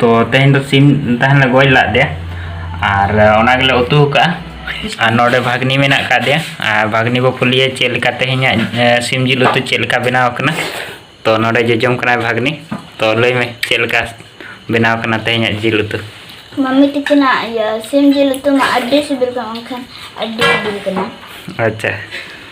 ᱛᱚ ᱛᱮᱦᱮᱧ ᱫᱚ ᱥᱤᱢ ᱛᱟᱦᱮᱱ ᱞᱮ ᱜᱚᱡ ᱞᱟᱜ ᱫᱮᱭᱟ ᱟᱨ ᱚᱱᱟ ᱜᱮᱞᱮ ᱩᱛᱩ ᱟᱠᱟᱫᱼᱟ ᱟᱨ ᱱᱚᱰᱮ ᱵᱷᱟᱜᱽᱱᱤ ᱢᱮᱱᱟᱜ ᱟᱠᱟᱫ ᱫᱮᱭᱟ ᱟᱨ ᱵᱷᱟᱜᱽᱱᱤ ᱵᱚ ᱠᱩᱞᱤᱭᱟ ᱪᱮᱫ ᱞᱮᱠᱟ ᱛᱮᱦᱮᱧᱟᱜ ᱥᱤᱢ ᱡᱤᱞ ᱩᱛᱩ ᱪᱮᱫ ᱞᱮᱠᱟ ᱵᱮᱱᱟᱣ ᱟᱠᱟᱱᱟ ᱛᱚ ᱱᱚᱰᱮ ᱡᱚᱡᱚᱢ ᱠᱟᱱᱟᱭ ᱵᱷᱟᱜᱽᱱᱤ ᱛᱚ ᱞᱟᱹᱭ ᱢᱮ ᱪᱮᱫ ᱞᱮᱠᱟ ᱵᱮᱱᱟᱣ ᱟᱠᱟᱱᱟ ᱛᱮᱦᱮᱧᱟᱜ ᱡᱤᱞ ᱩᱛᱩ ᱢᱟᱢᱤ ᱛᱤᱠᱤᱱᱟᱜ ᱤᱭᱟᱹ ᱥᱤᱢ ᱡᱤᱞ ᱩᱛᱩ ᱢᱟ ᱟᱹᱰᱤ ᱥᱤᱵᱤᱞ ᱠᱟᱱᱟ ᱢᱮᱱᱠᱷᱟᱱ ᱟᱹᱰᱤ ᱥᱤᱵᱤᱞ ᱠᱟᱱᱟ ᱟᱪᱪᱷᱟ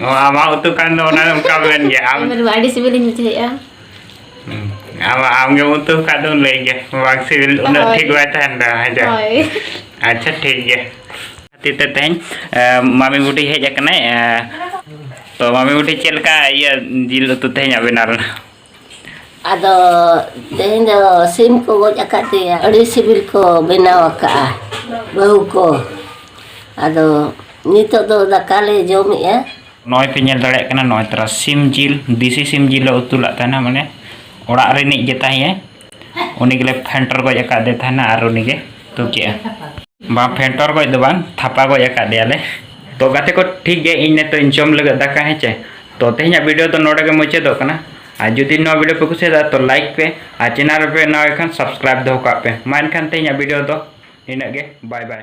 ᱟᱢᱟᱜ ᱩᱛᱩ ᱠᱟᱱ ᱫᱚ ᱚᱱᱟ ᱚᱱᱠᱟ ᱢᱮᱱ ᱜᱮ ᱟᱢ ᱟᱹᱰᱤ ᱥᱤᱵᱤᱞᱤᱧ ᱵᱩᱡᱷᱟᱹᱣᱮᱫᱼᱟ ᱟᱢ ᱟᱢᱜᱮ ᱩᱛᱩ ᱠᱟᱜ ᱫᱚ ᱞᱟᱹᱭ ᱜᱮ ᱵᱟᱝ ᱥᱤᱵᱤᱞ ᱩᱱᱟᱹᱜ ᱴᱷᱤᱠ ᱵᱟᱭ ᱛᱟᱦᱮᱱ ᱫᱚ ᱦᱮᱸ ᱟᱪᱪᱷᱟ ᱴᱷᱤᱠ ᱜᱮ ᱠᱷᱟᱹᱛᱤᱨ ᱛᱮ ᱛᱮᱦᱮᱧ ᱢᱟᱢᱤ ᱵᱩᱰᱷᱤ ᱦᱮᱡ ᱟᱠᱟᱱᱟᱭ ᱛᱚ ᱢᱟᱢᱤ ᱵᱩᱰᱷᱤ ᱪᱮᱫ ᱞᱮᱠᱟ ᱤᱭᱟᱹ ᱡᱤᱞ ᱩᱛᱩ ᱛᱮᱦᱮᱧᱟᱜ ᱵᱮᱱᱟᱣ ᱞᱮᱱᱟ ᱟᱫᱚ ᱛᱮᱦᱮᱧ ᱫᱚ ᱥᱤᱢ ᱠᱚ ᱜᱚᱡ ᱟᱠᱟᱫᱮᱭᱟ ᱟᱹᱰᱤ ᱥᱤᱵᱤᱞ ᱠᱚ ᱵᱮᱱᱟᱣ ᱟᱠᱟᱫᱼᱟ ᱵᱟᱹᱦᱩ ᱠᱚ ᱟᱫᱚ ᱱᱤᱛᱚᱜ ᱫᱚ ᱫᱟᱠᱟ ᱞᱮ ᱡᱚᱢᱮᱫᱼᱟ ᱱᱚᱜᱼᱚᱭ ᱯᱮ ᱧᱮᱞ ᱫᱟᱲᱮᱭᱟᱜ ᱠᱟᱱᱟ ᱱᱚᱜᱼᱚᱭ ᱛᱟᱨᱟ ᱥᱤᱢ ᱡᱤᱞ ᱫᱮᱥᱤ ᱥᱤᱢ ᱡᱤᱞ ᱞᱮ ᱩᱛᱩ ᱞᱟᱜ ᱛᱟᱦᱮᱱᱟ ᱢᱟᱱᱮ ᱚᱲᱟᱜ ᱨᱤᱱᱤᱡ ᱜᱮ ᱛᱟᱦᱮᱸᱭᱟᱭ ᱩᱱᱤ ᱜᱮᱞᱮ ᱯᱷᱮᱱᱴᱚᱨ ᱜᱚᱡ ᱟᱠᱟᱫᱮ ᱛᱟᱦᱮᱱᱟ ᱟᱨ ᱩᱱᱤ ᱜᱮ ᱛᱩ ᱠᱮᱜᱼᱟ ᱵᱟᱝ ᱯᱷᱮᱱᱴᱚᱨ ᱜᱚᱡ ᱫᱚ ᱵᱟᱝ ᱛᱷᱟᱯᱟ ᱜᱚᱡ ᱟᱠᱟᱫᱮᱭᱟᱞᱮ ᱛᱚ ᱜᱟᱛᱮ ᱠᱚ ᱴᱷᱤᱠ ᱜᱮ ᱤᱧ ᱱᱤᱛᱚᱜ ᱤᱧ ᱡᱚᱢ ᱞᱟᱹᱜᱤᱫ ᱫᱟᱠᱟ ᱦᱮᱸ ᱪᱮ ᱛᱚ ᱛᱮᱦᱮᱧᱟᱜ ᱵᱷᱤᱰᱤᱭᱳ ᱫᱚ ᱱᱚᱰᱮ ᱜᱮ ᱢᱩᱪᱟᱹᱫᱚᱜ ᱠᱟᱱᱟ ᱟᱨ ᱡᱩᱫᱤ ᱱᱚᱣᱟ ᱵᱷᱤᱰᱤᱭᱳ ᱯᱮ ᱠᱩᱥᱤᱭᱟᱫᱟ ᱛᱚ ᱞᱟᱭᱤᱠ ᱯᱮ ᱟᱨ ᱪᱮᱱᱮᱞ ᱨᱮᱯᱮ ᱱᱟᱣᱟ ᱠᱷᱟᱱ ᱥᱟᱵᱥᱠᱨᱟᱭᱤᱵ ᱫᱚᱦᱚ ᱠᱟᱜ ᱯᱮ ᱢᱟ ᱮᱱᱠᱷᱟᱱ ᱛᱮᱦᱮᱧᱟᱜ ᱵᱷᱤᱰᱤᱭᱳ ᱫᱚ ᱤᱱᱟᱹᱜ ᱜᱮ ᱵᱟᱭ ᱵᱟᱭ